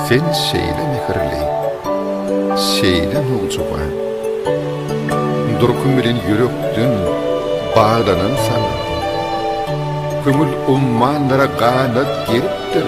Sen şeýle mehirli, şeýle nowjuba. Durkun bilen ýürekden baglanan sana. Köňül ummanlara ganat geripdir.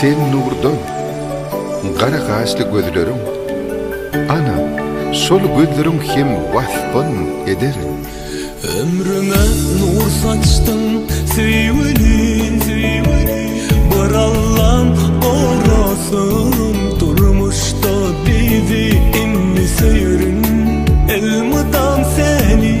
Sen nurdan, gara gaşly gözleriň, Ana, şol gözleriň hem waspyn ederin. Ömrüme nur saçdyň, söýgüli, Bir Allam gorasyn durmuşda bizi, Indi söýerin elmydam seni.